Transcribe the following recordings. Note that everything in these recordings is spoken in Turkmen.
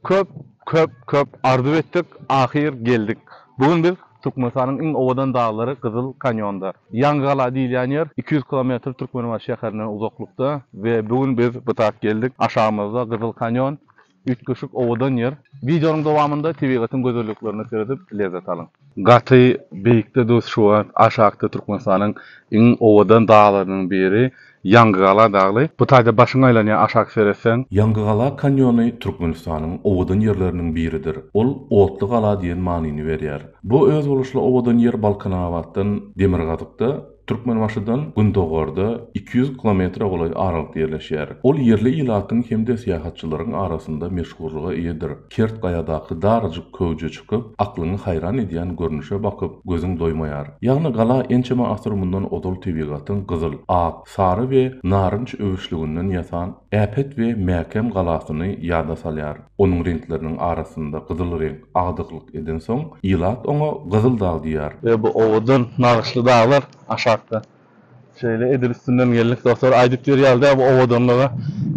Köp köp köp arzuw etdik ahyr geldik bu gün biz Türkmenistanyň iň owadan daglary Gyzyl kanýonda Ýaňy gala diýilýän ýer iki ýüz kilometr Türkmenbaşy şäherinden uzaklykda we bu gün biz bu tak geldik aşagymyzda Gyzyl kanýon üýtgeşik owadan ýer wideonyň dowamynda tebigatyň gözelliklerine seredip lezzet alyň. Gaty beýikde dos şu wagt aşakda Türkmenistanyň iň owadan daglarynyň biri Ýangygala dagly. Bu taýda başyň aýlanýar aşak seretseň. Ýangygala kanýony Türkmenistanyň owadan ýerleriniň biridir. Ol Otly gala diýen manyny berýär. Bu özboluşly owadan ýer Balkanabatdan demirgazykda, Türkmenbaşydan gündogarda iki ýüz kilometre golaý aralykda ýerleşýär. Ol ýerli ilatyň hem-de syýahatçylaryň arasynda meşhurlyga eýedir. Kert gaýadaky darajyk köwje çykyp, aklyňy haýran edýän görnüşe bakyp, gözüň doýmaýar. Ýagny gala ençeme asyr mundan ozal tebigatyň gyzyl, ak, sary we narynç öwüşliginden ýasan äpet we mäkäm galasyny ýada salýar. Onuň reňkleriniň arasynda gyzyl reňk agdyklyk edensoň, ilat oňa Gyzyldag diýýär. We bu owadan nagyşly daglar aşakda Şeýle edil üstünden geldik dostlar. Aýdyp ýör ýaly däl bu owadanlyga.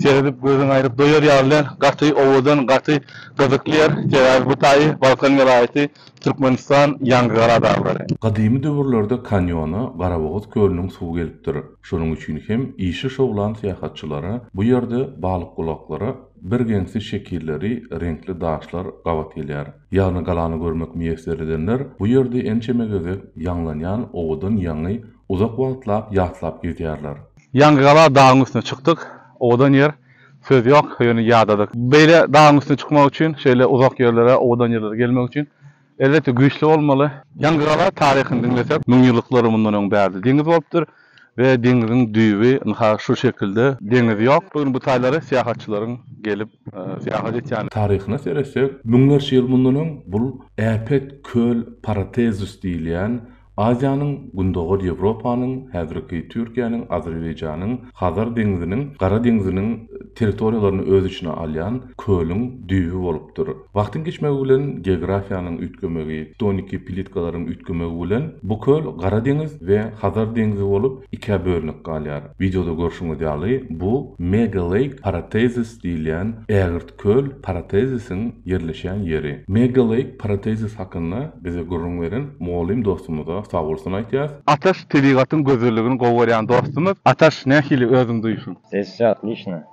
Seredip gözüň aýryp doýar ýaly däl. Gaty owadan, gaty gyzykly ýer. Sebäbi bu taýy Balkan welaýaty, Türkmenistan, Ýangygara daglary. Gadymy döwürlerde kanýona Garabogaz kölüniň suwy gelipdir. Şonuň üçin hem işi şowlan syýahatçylara bu ýerde balykgulaklara birgeňsi şekilleri, reňkli daşlar gabat gelýär. Ýagny galany görmek miýesser edenler bu ýerde ençeme gezek ýaňlanýan owadan ýaňy uzak wagtlap ýatlap gezýärler. Ýaňy gala dagyň üstüne çykdyk. Owadan ýer. Söz ýok, ýöne ýadadyk. Beýle dagyň üstüne çykmak üçin, şeýle uzak ýerlere, owadan ýerlere gelmek üçin elbetde güýçli bolmaly. Ýaňy gala taryhyny diňlesek, müňýyllyklary mundan öň bärde deňiz bolupdyr. We deňiziň düýbi ynha şu şekilde. Deňiz ýok. Bu gün bu taýlara syýahatçylaryň gelip syýahat etýän. Taryhyna seretsek, müňlerçe ýyl mundan öň bul äpet köl Paratezus diýilýän Aziýanyň, Gündogar Ýewropanyň, häzirki Türkiýäniň, Azerbaýjanyň, Hazar deňziniň, Gara deňziniň territoriýalaryny öz içine alýan kölüň düýbi bolupdyr. Wagtyň geçmegi bilen geografiýanyň üýtgemegi, tektoniki plitkalaryň üýtgemegi bilen bu köl Gara deňiz we Hazar deňzi bolup ikä bölünip galýar. Wideoda görşüňiz ýaly, bu Mega Lake Paratezis diýilýän ägirt köl Paratezisiň ýerleşýän ýeri. Mega Lake Paratezis hakynda bize gürrüň beren mugallym dostumyza sagbolsun aýtýas. Ataş tebigatyň gözelligini gowy görýän dostumyz. Ataş nähili özüň duýusyň? Sesi atlyşna.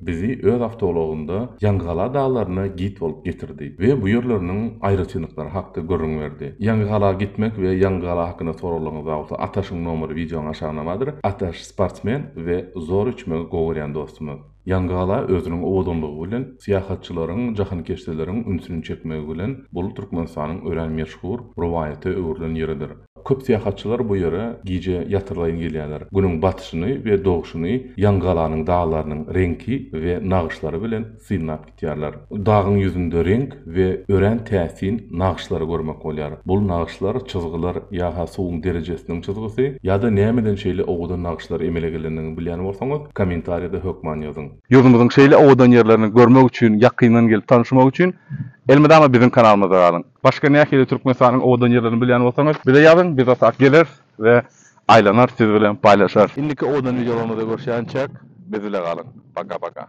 Bizi öz awtoulagynda Ýaňygala daglaryna git bolup getirdi we bu ýerleriniň aýratynlyklary hakda gürrüň berdi. Ýaňygala gitmek we Ýaňygala hakynda soraglaryňyz bolsa Ataşyň nomeri wideonyň aşagyndamadyr. Ataş sportsmen we zor uçmagy gowy görýän dostumyz. Ýaňygala özüniň owadanlygy bilen syýahatçylaryň, jahankeşdeleriň ünsüni çekmegi bilen bul Türkmenistanyň örän meşhur rowaýata öwrülen ýeridir. Köp syýahatçylar bu ýere gije ýatyrylaýyn gelýärler. Günüň batyşyny we doguşyny ýaňygalanyň daglarynyň reňki we nagyşlary bilen synlap gitýärler. Dagyň ýüzünde reňk we örän täsin nagyşlary görmek bolýar. Bul nagyşlar, çyzgylar ýa-ha suwuň derejesiniň çyzgysy, ýa-da nämeden şeýle owadan nagyşlar emele gelendigini bilýän bolsaňyz, kommentariýada hökman ýazyň. Ýurdumyzyň şeýle owadan ýerlerini görmek üçin, ýakyndan gelip tanyşmak üçin elmydama biziň kanalymyzda galyň! Başga nähili Türkmenistanyň owadan ýerlerini bilýän bolsaňyz bize ýazyň biz otag geleris we aýlanar siz bilen paýlaşarys. Indiki owadan wideolarymyzda görüşýänçäk biz bile galyň. Paka paka.